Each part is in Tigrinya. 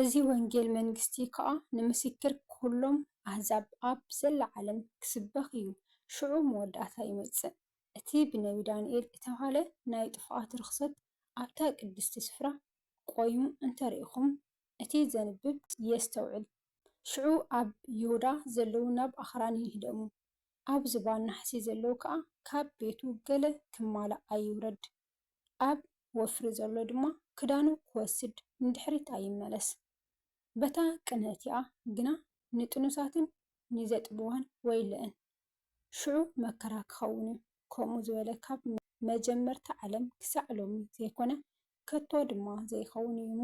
እዚ ወንጌል መንግስቲ ኸኣ ንምስክር ኵሎም ኣህዛብ ኣብ ዘላ ዓለም ኪስበኽ እዩ፣ ሽዑ መወዳእታ ይመጽእ። እቲ ብነብዪ ዳንኤል እተባህለ ናይ ጥፍኣት ርኽሰት ኣብታ ቅድስቲ ስፍራ ቈይሙ እንተ ርኢኹም፣ እቲ ዘንብብ የስተውዕል። ሽዑ ኣብ ይሁዳ ዘለዉ ናብ ኣኽራን ይህደሙ፣ ኣብ ዝባን ናሕሲ ዘለዉ ከኣ ካብ ቤቱ ገለ ኪማላእ ኣይውረድ። ኣብ ወፍሪ ዘሎ ድማ ክዳኑ ክወስድ ንድሕሪት ኣይመለስ። በታ ቅነ እቲኣ ግና ንጥኑሳትን ንዘጥብዋን ወይለ'ን። ሽዑ መከራ ክኸውን'ዩ። ከምኡ ዝበለ ካብ መጀመርታ ዓለም ክሳዕ ሎሚ ዘይኮነ ከቶ ድማ ዘይኸውን እዩ'ሞ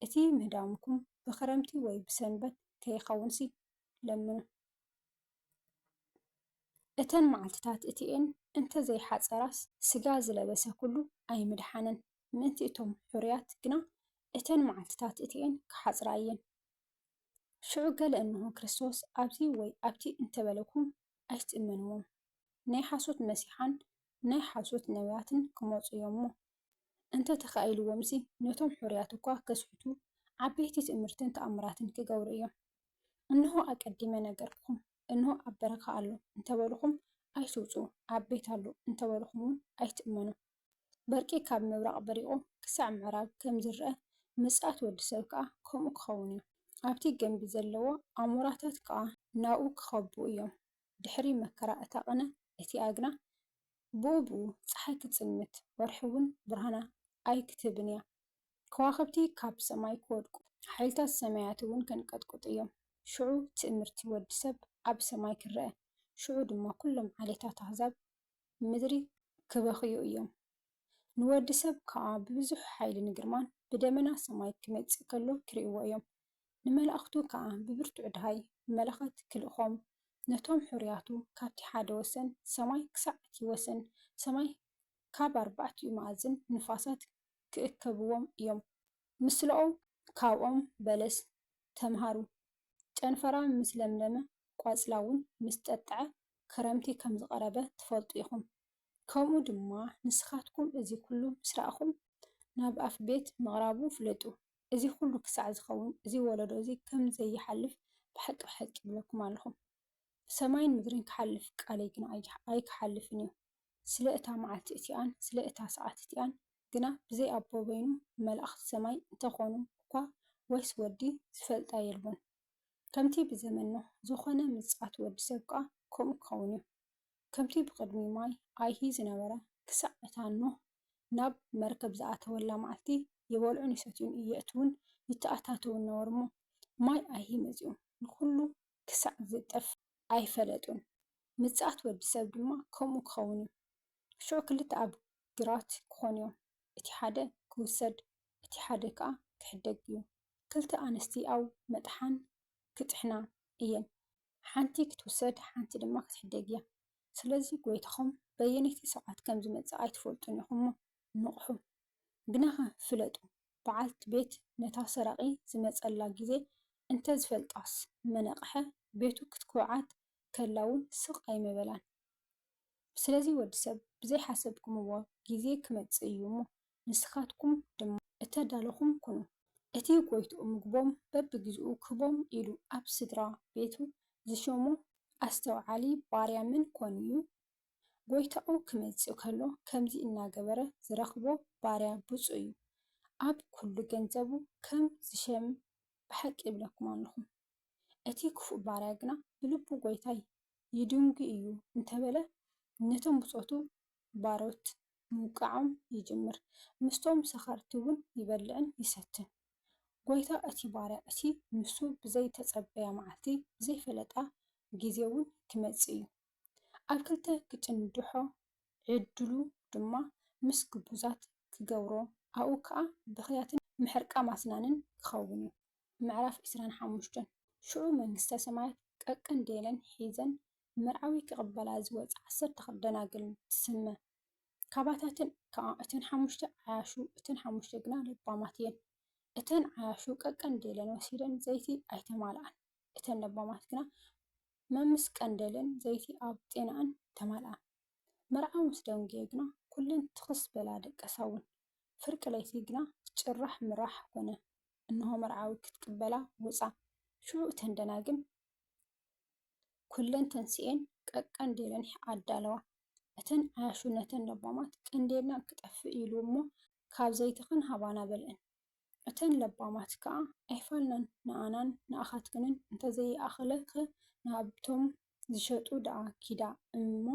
እቲ ምህዳምኩም ብክረምቲ ወይ ብሰንበት ከይኸውንሲ ለምኑ። እተን መዓልትታት እቲኤን እንተ ዘይሓጸራስ፣ ስጋ ዝለበሰ ኩሉ ኣይምደሓነን። ምእንቲ እቶም ሕሩያት ግና እተን መዓልትታት እቲኤን ኪሓጽራ እየን። ሽዑ ገለ እንሆ ክርስቶስ ኣብዚ ወይ ኣብቲ እንተ በለኩም፣ ኣይትእመንዎም። ናይ ሓሶት መሲሓን ናይ ሓሶት ነብያትን ኪመጹ እዮም እሞ፣ እንተ ተኻኢልዎምሲ ነቶም ሕሩያት እኳ ከስሕቱ ዓበይቲ ትእምርትን ተኣምራትን ኪገብሩ እዮም። እንሆ ኣቀዲመ ነገርኩኹም፣ እንሆ ኣብ በረኻ ኣሎ እንተ በሉኹም ኣይትውጽኡ፣ ኣብ ቤት ኣሎ እንተ በሉኹምውን ኣይትእመኑ። በርቂ ካብ ምብራቕ በሪቑ ክሳዕ ምዕራብ ከም ዚርኣ፣ ምጽኣት ወዲ ሰብ ከኣ ከምኡ ኪኸውን እዩ። ኣብቲ ገምቢ ዘለዎ ኣሞራታት ከኣ ናብኡ ኪኸቡ እዮም። ድሕሪ መከራ እታ ቕነ እቲኣ ግና ብኡብኡ ጸሓይ ክትጽልምት፣ ወርሒ'ውን ብርሃና ኣይክትህብን እያ። ከዋኽብቲ ካብ ሰማይ ክወድቁ፣ ሓይልታት ሰማያት'ውን ከንቀጥቅጡ እዮም። ሽዑ ትእምርቲ ወዲ ሰብ ኣብ ሰማይ ክረኣ፣ ሽዑ ድማ ኩሎም ዓሌታት ኣህዛብ ምድሪ ክበኽዩ እዮም። ንወዲ ሰብ ከኣ ብብዙሕ ሓይልን ግርማን ብደመና ሰማይ ክመጽእ ከሎ ክርእይዎ እዮም። ንመላእኽቱ ከኣ ብብርቱዕ ደሃይ መለኸት ኪልእኾም፣ ነቶም ሕሩያቱ ካብቲ ሓደ ወሰን ሰማይ ክሳዕ እቲ ወሰን ሰማይ ካብ ኣርባዕቲኡ መኣዝን ንፋሳት ኪእከብዎም እዮም። ምስለ ኦም ካብ ኦም በለስ ተምሃሩ፣ ጨንፈራ ምስ ለምለመ ቈጽላውን ምስ ጠጥዐ ክረምቲ ከም ዝቐረበ ትፈልጡ ኢኹም። ከምኡ ድማ ንስኻትኩም እዚ ኵሉ ምስ ረኣኹም ናብ ኣፍ ቤት ምቕራቡ ፍለጡ። እዚ ኩሉ ክሳዕ ዝኸውን እዚ ወለዶ እዚ ከም ዘይሓልፍ ብሓቂ ብሓቂ ይብለኩም ኣለኹ። ሰማይን ምድርን ክሓልፍ ቃለይ ግና ኣይክሓልፍን እዩ። ስለ እታ መዓልቲ እቲኣን ስለ እታ ሰዓት እቲኣን ግና ብዘይ ኣቦ በይኑ መላእኽቲ ሰማይ እንተ ኾኑ እኳ ወይስ ወዲ ዝፈልጣ የልቦን። ከምቲ ብዘመን ኖህ ዝኾነ ምጽኣት ወዲ ሰብ ከኣ ከምኡ ክኸውን እዩ። ከምቲ ብቕድሚ ማይ ኣይሂ ዝነበረ፣ ክሳዕ እታ ኖህ ናብ መርከብ ዝኣተወላ መዓልቲ ይበልዑን ይሰትዩን የእትዉን ይተኣታተዉን ነበሩ እሞ፣ ማይ ኣይሂ መጺኡ ንዅሉ ክሳዕ ዚጠፍ ኣይፈለጡን። ምጽኣት ወዲ ሰብ ድማ ከምኡ ኪኸውን እዩ። ሽዑ ክልተ ኣብ ግራት ኪዀኑ እዮም፣ እቲ ሓደ ኪውሰድ፣ እቲ ሓደ ከኣ ኪሕደግ እዩ። ክልተ ኣንስቲ ኣብ መጥሓን ኪጥሕና እየን፣ ሓንቲ ኽትውሰድ ሓንቲ ድማ ኽትሕደግ እያ። ስለዚ ጐይታኹም በየነይቲ ሰዓት ከም ዚመጽእ ኣይትፈልጡን ኢኹም እሞ፣ ንቕሑ። ግናኸ ፍለጡ፣ በዓልቲ ቤት ነታ ሰራቒ ዚመጸላ ጊዜ እንተ ዝፈልጣስ፣ ምነቕሐ፣ ቤቱ ኽትኰዓት ከላ እውን ስቕ ኣይምበላን። ስለዚ ወዲ ሰብ ብዘይሓሰብኩምዎ ጊዜ ኪመጽእ እዩ እሞ፣ ንስኻትኩም ድማ እተዳሎኹም ኩኑ። እቲ ጐይትኡ ምግቦም በብግዜኡ ክህቦም ኢሉ ኣብ ስድራ ቤቱ ዝሾሞ ኣስተውዓሊ ባርያ መን ኰን እዩ? ጐይታኡ ኺመጽእ ከሎ ከምዚ እናገበረ ዚረኽቦ ባርያ ብጹእ እዩ። ኣብ ኵሉ ገንዘቡ ኸም ዚሸም ብሓቂ እብለኩም ኣሎኹ። እቲ ኽፉእ ባርያ ግና ብልቡ ጐይታይ ይድንጒ እዩ እንተ በለ፣ ነቶም ብጾቱ ባሮት ምውቃዖም ይጅምር፣ ምስቶም ሰኸርቲውን ይበልዕን ይሰትን። ጐይታ እቲ ባርያ እቲ ንሱ ብዘይተጸበያ መዓልቲ ብዘይፈለጣ ጊዜውን ኪመጽእ እዩ። ኣብ ክልተ ኪጭንድሖ፣ ዕድሉ ድማ ምስ ግቡዛት ኪገብሮ፣ ኣብኡ ከኣ ብኽያትን ምሕርቃም ኣስናንን ኪኸውን እዩ። ምዕራፍ ዕስራን ሓሙሽተን ሽዑ መንግሥተ ሰማያት ቀቅንዴለን ሒዘን መርዓዊ ክቕበላ ዝወጻ ዓሰርተ ክልተ ደናግል ትስመ። ካባታተን ከኣ እተን ሓሙሽተ ዓያሹ እተን ሓሙሽተ ግና ለባማት እየን። እተን ዓያሹ ቀቀንዴለን ወሲደን ዘይቲ ኣይተማልኣን። እተን ለባማት ግና መምስ ቀንዴለን ዘይቲ ኣብ ጤናኣን ተማልኣ። መርዓዊ ምስ ደንጉየ ግና ኩለን ትኽስ በላ ደቀሳውን። ፍርቂ ለይቲ ግና ጭራሕ ምራሕ ኮነ። እንሆ መርዓዊ ክትቅበላ ወጻ። ሽዑ እተን ደናግል። ኩለን ተንሲኤን ቀቀንዴለን ኣዳለዋ። እተን ዓያሹ ነተን ለባማት ቀንዴልና ክጠፍእ ኢሉ እሞ ካብ ዘይትኽን ሃባና በልእን። እተን ለባማት ከኣ ኣይፋልናን ንኣናን ንኣኻትክንን እንተዘይኣኸለ ከ ናብቶም ዝሸጡ ደኣ ኪዳ እሞ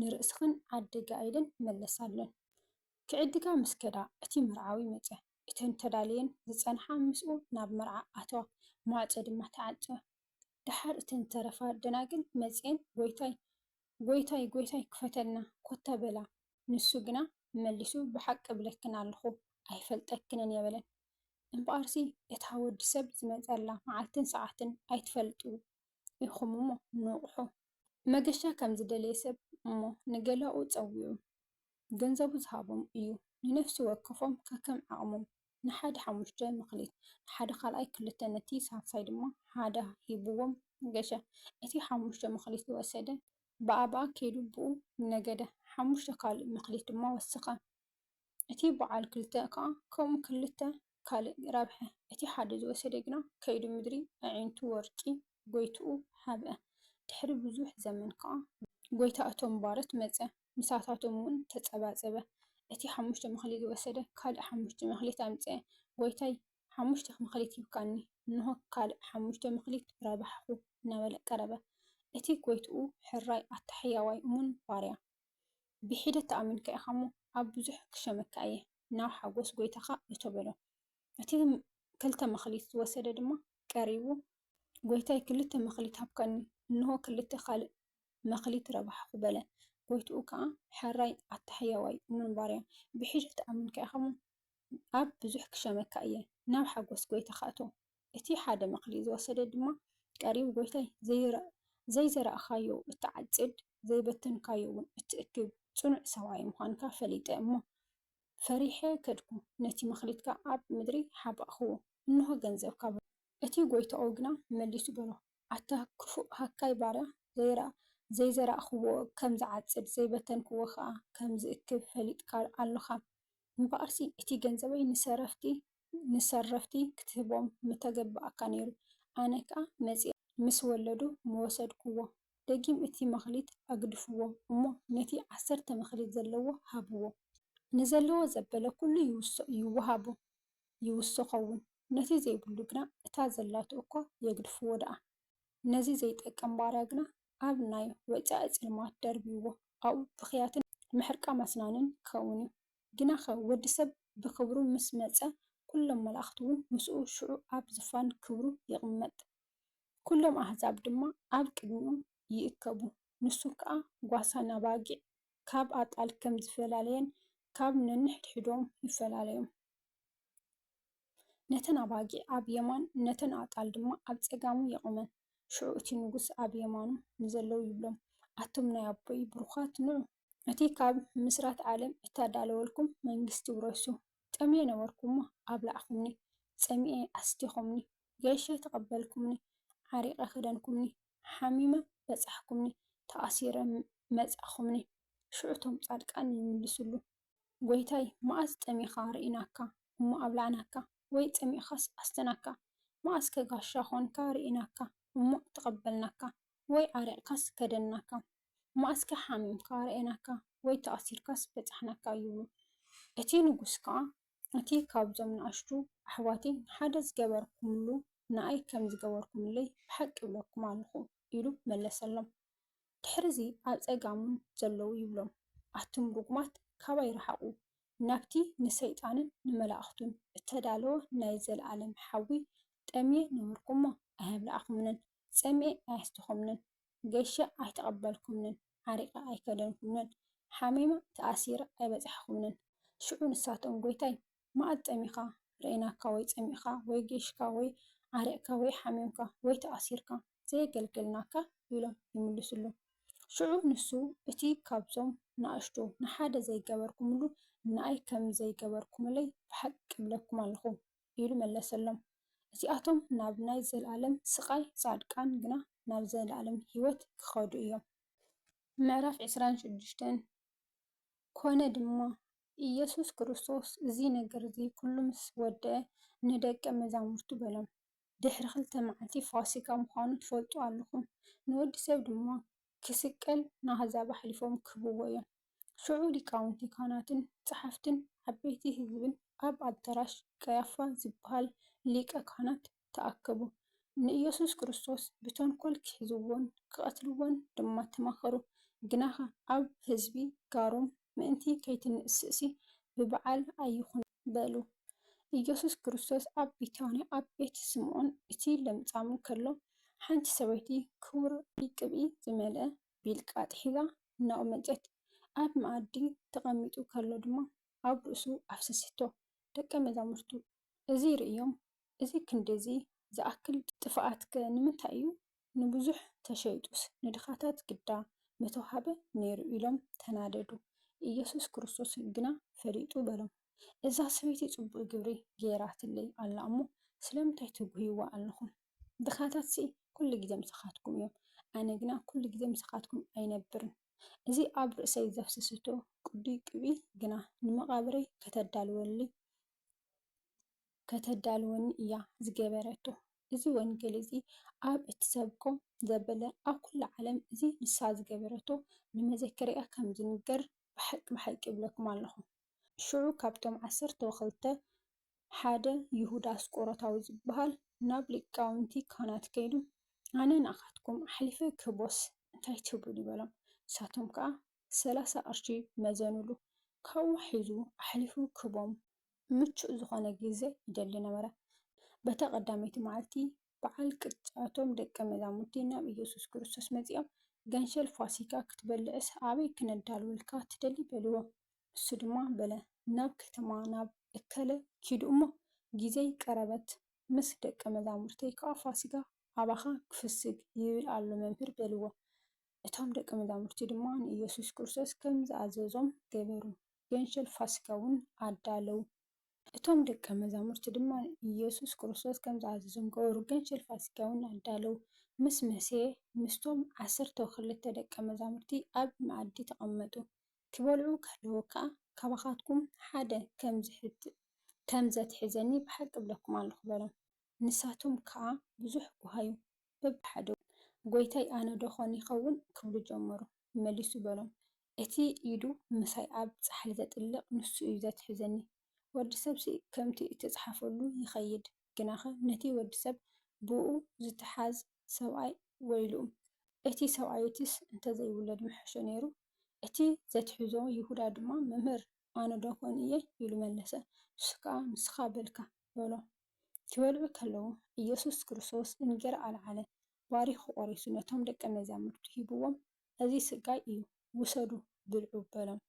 ንርእስኽን ዓድጋ ኢለን መለሳለን። ክዕድጋ ምስ ከዳ እቲ መርዓዊ መጸ። እተን ተዳልየን ዝጸንሓ ምስኡ ናብ መርዓ ኣተዋ። ማዕጾ ድማ ተዓጸወ። ደሓር እተን ዝተረፋ ደናግል መጺኤን ጐይታይ! ጐይታይ! ጐይታይ! ክፈተልና! ኮታ በላ። ንሱ ግና መሊሱ ብሓቂ እብለክን ኣሎኹ ኣይፈልጠክንን እየ በለን። እምበኣርሲ እታ ወዲ ሰብ ዝመጸላ መዓልትን ሰዓትን ኣይትፈልጡ ኢኹም እሞ ንቕሑ። መገሻ ከም ዝደለየ ሰብ እሞ ንገላኡ ጸዊዑ ገንዘቡ ዝሃቦም እዩ ንነፍሲ ወከፎም ከከም ዓቕሞም ንሓደ ሓሙሽተ መክሊት ንሓደ ካልኣይ ክልተ ነቲ ሳልሳይ ድማ ሓደ ሂብዎም ገሸ። እቲ ሓሙሽተ መክሊት ዝወሰደ ብኣባኣ ከይዱ ብኡ ነገደ፣ ሓሙሽተ ካልእ መክሊት ድማ ወሰኸ። እቲ በዓል ክልተ ከኣ ከምኡ ክልተ ካልእ ረብሐ። እቲ ሓደ ዝወሰደ ግና ከይዱ ምድሪ ኣዒንቱ ወርቂ ጎይትኡ ሀብአ። ድሕሪ ብዙሕ ዘመን ከኣ ጎይታ እቶም ባሮት መጸ። ምሳታቶም እውን ተጸባጸበ። እቲ ሓሙሽተ መክሊት ዝወሰደ ካልእ ሓሙሽተ መክሊት ኣምጽኤ። ጎይታይ ሓሙሽተ መክሊት ሂብካኒ፣ እንሆ ካልእ ሓሙሽተ መክሊት ረባሕኩ እናበለ ቀረበ። እቲ ጎይትኡ ሕራይ ኣታ ሕያዋይ እሙን ባርያ፣ ብሒደት ተኣሚንካ ኢኻ እሞ፣ ኣብ ብዙሕ ክሸመካ እየ፣ ናብ ሓጎስ ጎይታኻ እቶ በሎ። እቲ ክልተ መክሊት ዝወሰደ ድማ ቀሪቡ። ጎይታይ ክልተ መክሊት ሃብካኒ፣ እንሆ ክልተ ካልእ መክሊት ረባሕኹ በለ። ጎይትኡ ከኣ ሐራይ ኣታ ሕያዋይ እሙን ባርያ ብሒጂ ትኣምንካ ኢኻ እሞ ኣብ ብዙሕ ክሸመካ እየ ናብ ሓጎስ ጎይታኻ እቶ እቲ ሓደ መክሊት ዝወሰደ ድማ ቀሪቡ ጎይታይ ዘይዘራእካዮ እትዓጽድ ዘይበተንካዮ ውን እትእክብ ጽኑዕ ሰብኣይ ምዃንካ ፈሊጠ እሞ ፈሪሐ ከድኩ ነቲ መክሊትካ ኣብ ምድሪ ሓባእክዎ እንሆ ገንዘብካ በሎ። እቲ ጎይታኡ ግና መሊሱ በሎ ኣታ ክፉእ ሃካይ ባርያ፣ ዘይረኣ ዘይዘራእክዎ ከም ዝዓጽድ፣ ዘይበተንክዎ ከኣ ከም ዝእክብ ፈሊጥካ ኣሎኻ። እምበኣርሲ እቲ ገንዘበይ ንሰረፍቲ ንሰረፍቲ ክትህቦም ምተገበኣካ ነይሩ፣ ኣነ ከኣ መጺኣ ምስ ወለዱ ምወሰድክዎ። ደጊም እቲ መክሊት ኣግድፍዎ እሞ ነቲ ዓሰርተ መክሊት ዘለዎ ሃብዎ። ንዘለዎ ዘበለ ኩሉ ይውሃቦ። ይውስኾውን ነቲ ዘይብሉ ግና እታ ዘላቶ እኳ የግድፍዎ ደኣ ነዚ ዘይጠቅም ባርያ ግና ኣብ ናይ ወጻኢ ጽልማት ደርብይዎ ኣብኡ ብኽያትን ምሕርቃም ኣስናንን ክኸውንዩ ግናኸ ወዲ ሰብ ብኽብሩ ምስ መጸ ኩሎም መላእኽትውን ምስኡ ሽዑ ኣብ ዝፋን ክብሩ ይቕመጥ ኩሎም ኣሕዛብ ድማ ኣብ ቅድሚኡ ይእከቡ ንሱ ከኣ ጓሳ ናባጊዕ ካብ ኣጣል ከም ዝፈላለየን ካብ ነንሕድሕዶም ይፈላለዮም። ነተን ኣባጊዕ ኣብ የማን ነተን ኣጣል ድማ ኣብ ጸጋሙ የቝመን። ሽዑ እቲ ንጉስ ኣብ የማኑ ንዘለዉ ይብሎም፣ ኣቱም ናይ ኣቦይ ብሩኻት ንዑ፣ ነቲ ካብ ምስራት ዓለም እተዳለወልኩም መንግስቲ ውረሱ፣ ጠምየ ነበርኩ እሞ ኣብላዕኩምኒ፣ ጸሚኤ ኣስቲኹምኒ፣ ገይሸ ተቐበልኩምኒ፣ ዓሪቐ ከደንኩምኒ፣ ሓሚመ በጻሕኩምኒ ተኣሲረ መጻእኹምኒ ሽዑ እቶም ጻድቃን ይምልስሉ ጎይታይ መኣስ ጠሚኻ ርኢናካ እሞ ኣብላዕናካ ወይ ጸሚእኻስ ኣስተናካ መኣስከ ጋሻ ኾንካ ርኢናካ እሞ ተቐበልናካ ወይ ዓሪቕካስ ከደንናካ መኣስከ ሓሚምካ ርኣናካ ወይ ተኣሲርካስ በጻሕናካ ይብሉ እቲ ንጉስ ከኣ እቲ ካብዞም ንኣሽቱ ኣሕዋተይ ንሓደ ዝገበርኩምሉ ንኣይ ከም ዝገበርኩምለይ ብሓቂ እብለኩም ኣሎኹ ኢሉ መለሰሎም። ድሕርዚ ኣብ ጸጋሙን ዘለዉ ይብሎም ኣቱም ርጉማት ካባይ ርሓቑ ናብቲ ንሰይጣንን ንመላእኽቱን እተዳለወ ናይ ዘለኣለም ሓዊ ጠምየ ነበርኩ'ሞ ኣየብላዕኹምንን ጸሚኤ ኣየስትኹምንን። ገሸ ኣይተቐበልኩምንን፣ ዓሪቐ ኣይከደንኩምንን፣ ሓሚመ ተኣሲረ ኣይበጻሕኹምንን። ሽዑ ንሳቶም፣ ጐይታይ፣ መኣዝ ጠሚኻ ርኣይናካ ወይ ጸሚእካ ወይ ጌሽካ ወይ ዓሪቕካ ወይ ሓሚምካ ወይ ተኣሲርካ ዘየገልገልናካ? ኢሎም ይምልሱሉ። ሽዑ ንሱ፣ እቲ ኻብዞም ንኣሽቱ ንሓደ ዘይገበርኩምሉ፣ ንኣይ ከም ዘይገበርኩምለይ ብሓቂ እብለኩም ኣሎኹ። ኢሉ መለሰሎም። እዚኣቶም ናብ ናይ ዘለኣለም ስቓይ፣ ጻድቃን ግና ናብ ዘለኣለም ህይወት ኪኸዱ እዮም። ምዕራፍ ዕስራን ሸዱሽተን ኮነ ድማ፣ ኢየሱስ ክርስቶስ እዚ ነገር እዚ ዅሉ ምስ ወድአ፣ ንደቀ መዛሙርቱ በሎም፣ ድሕሪ ኽልተ መዓልቲ ፋሲካ ምዃኑ ትፈልጡ ኣለኹም፣ ንወዲ ሰብ ድማ ኪስቀል፣ ንኣህዛብ ኣሕሊፎም ኪህብዎ እዮም። ሽዑ ሊቃውንቲ ካህናትን ጸሓፍትን ዓበይቲ ሕዝብን ኣብ ኣዳራሽ ቀያፋ ዚበሃል ሊቀ ካህናት ተኣከቡ። ንኢየሱስ ክርስቶስ ብተንኰል ኪሕዝዎን ኪቐትልዎን ድማ ተማኸሩ። ግናኸ ኣብ ሕዝቢ ጋሮም ምእንቲ ከይትንእስ'ሲ ብበዓል ኣይኹን በሉ። ኢየሱስ ክርስቶስ ኣብ ቢታንያ ኣብ ቤት ስምዖን እቲ ለምጻም ከሎ፣ ሓንቲ ሰበይቲ ክቡር ቅብኢ ዝመልአ ቢልቃ ኣጥሒላ እናቖመጨት ኣብ መኣዲ ተቐሚጡ ከሎ ድማ ኣብ ርእሱ ኣፍሰሰቶ። ደቀ መዛሙርቱ እዚ ርእዮም እዚ ክንድዚ ዝኣክል ጥፍኣትከ ንምንታይ እዩ? ንብዙሕ ተሸይጡስ ንድኻታት ግዳ ምተዋህበ ነይሩ ኢሎም ተናደዱ። ኢየሱስ ክርስቶስ ግና ፈሊጡ በሎም እዛ ሰበይቲ ጽቡቕ ግብሪ ገይራትለይ ኣላ እሞ ስለምንታይ ትጕህይዋ ኣለኹም? ድኻታትሲ ኩሉ ግዜ ምሳኻትኩም እዮም፣ ኣነ ግና ኩሉ ግዜ ምሳኻትኩም ኣይነብርን። እዚ ኣብ ርእሰይ ዘፍሰሰቶ ቅዱይ ቅብኢ ግና ንመቓብረይ ከተዳልወኒ እያ ዝገበረቶ። እዚ ወንጌል እዚ ኣብ እትሰብኮ ዘበለ ኣብ ኩሉ ዓለም እዚ ንሳ ዝገበረቶ ንመዘከርያ ከም ዝንገር ብሓቂ ብሓቂ እብለኩም ኣሎኹ። ሽዑ ካብቶም ዓሰርተው ክልተ ሓደ ይሁዳ ኣስቆሮታዊ ዝብሃል ናብ ሊቃውንቲ ካህናት ከይዱ፣ ኣነ ንኣኻትኩም ኣሕሊፈ ክህቦስ እንታይ ትብሉኒ? በሎም። ንሳቶም ከኣ ሰላሳ ቅርሺ መዘኑሉ። ካብኡ ሒዙ ኣሕሊፉ ክህቦም ምቹእ ዝኾነ ግዜ ይደሊ ነበረ። በታ ቀዳመይቲ መዓልቲ በዓል ቅጥዓቶም ደቀ መዛሙርቲ ናብ ኢየሱስ ክርስቶስ መጺኦም ገንሸል ፋሲካ ክትበልዕስ ኣበይ ክነዳልወልካ ትደሊ? በልዎ። እሱ ድማ በለ ናብ ከተማ ናብ እከለ ኪዱ እሞ ጊዜይ ቀረበት ምስ ደቀ መዛሙርተይ ከኣ ፋሲጋ ኣባኻ ክፍስግ ይብል ኣሎ መምህር በልዎ እቶም ደቀ መዛሙርቲ ድማ ንኢየሱስ ክርስቶስ ከም ዝኣዘዞም ገበሩ ገንሸል ፋሲጋውን ኣዳለዉ እቶም ደቀ መዛሙርቲ ድማ ንኢየሱስ ክርስቶስ ከም ዝኣዘዞም ገበሩ ገንሸል ፋሲጋውን ኣዳለዉ ምስ መሴ ምስቶም ዓሰርተው ክልተ ደቀ መዛሙርቲ ኣብ መኣዲ ተቐመጡ ኪበልዑ ከለዉ ከኣ ካባኻትኩም ሓደ ከም ዘትሕዘኒ ብሓቂ እብለኩም ኣሎኹ በሎም። ንሳቶም ከኣ ብዙሕ ጐሃዩ፣ በብሓደውን፣ ጐይታይ ኣነ ደኾን ይኸውን? ኪብሉ ጀመሩ። መሊሱ በሎም፣ እቲ ኢዱ ምሳይ ኣብ ጻሕሊ ዜጥልቕ ንሱ እዩ ዘትሕዘኒ። ወዲ ሰብሲ ከምቲ እተጻሕፈሉ ይኸይድ። ግናኸ ነቲ ወዲ ሰብ ብእኡ ዚተሓዝ ሰብኣይ ወይልኡ፣ እቲ ሰብኣይ'ቲስ እንተ ዘይውለድ ምሐሾ ነይሩ። እቲ ዘትሕዞ ይሁዳ ድማ፣ መምህር፣ ኣነዶ ዀን እየ? ኢሉ መለሰ። ንሱ ከኣ፣ ንስኻ በልካ፣ በሎ። ኪበልዑ ከለዉ፣ ኢየሱስ ክርስቶስ እንጌራ ኣልዓለ፣ ባሪኹ ቈሪሱ ነቶም ደቀ መዛሙርቱ ሂብዎም፣ እዚ ስጋይ እዩ፣ ውሰዱ፣ ብልዑ፣ በሎም።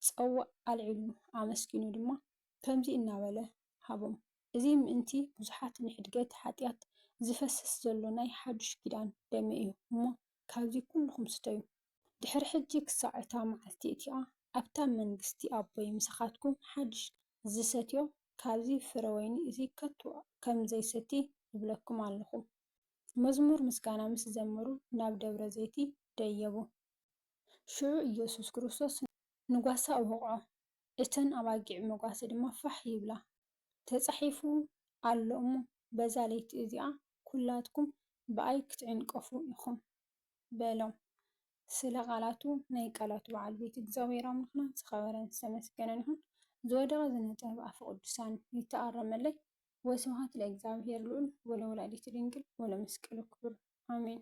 ጸዋእ ኣልዒሉ፣ ኣመስጊኑ ድማ ከምዚ እናበለ ሃቦም፣ እዚ ምእንቲ ብዙሓት ንሕድገት ሓጢኣት ዚፈስስ ዘሎ ናይ ሓድሽ ኪዳን ደመይ እዩ እሞ፣ ካብዚ ኵልኹም ስተዩ። ድሕሪ ሕጂ ክሳዕ እታ መዓልቲ እቲኣ ኣብታ መንግስቲ ኣቦይ ምሳኻትኩም ሓድሽ። ዚሰትዮ ኻብዚ ፍረ ወይኒ እዚ ከቶ ኸም ዘይሰቲ እብለኩም ኣሎኹ። መዝሙር ምስጋና ምስ ዘመሩ ናብ ደብረ ዘይቲ ደየቡ። ሽዑ ኢየሱስ ክርስቶስ ንጓሳ ወቕዖ፣ እተን ኣባጊዕ መጓሰ ድማ ፋሕ ይብላ። ተጻሒፉ ኣሎ እሞ በዛ ለይቲ እዚኣ ኵላትኩም ብኣይ ክትዕንቀፉ ኢኹም በሎም። ስለ ቓላቱ ናይ ቃላቱ በዓል ቤት እግዚኣብሔር ኣምላኽና ዝኸበረን ዝተመስገነን ይኹን። ዝወደቐ ዝነጸ ብኣፈ ቅዱሳን ይተኣረመለይ። ወስብሃት ለእግዚኣብሔር ልዑል ወለወላዲቱ ድንግል ወለመስቀሉ ክቡር ኣሜን።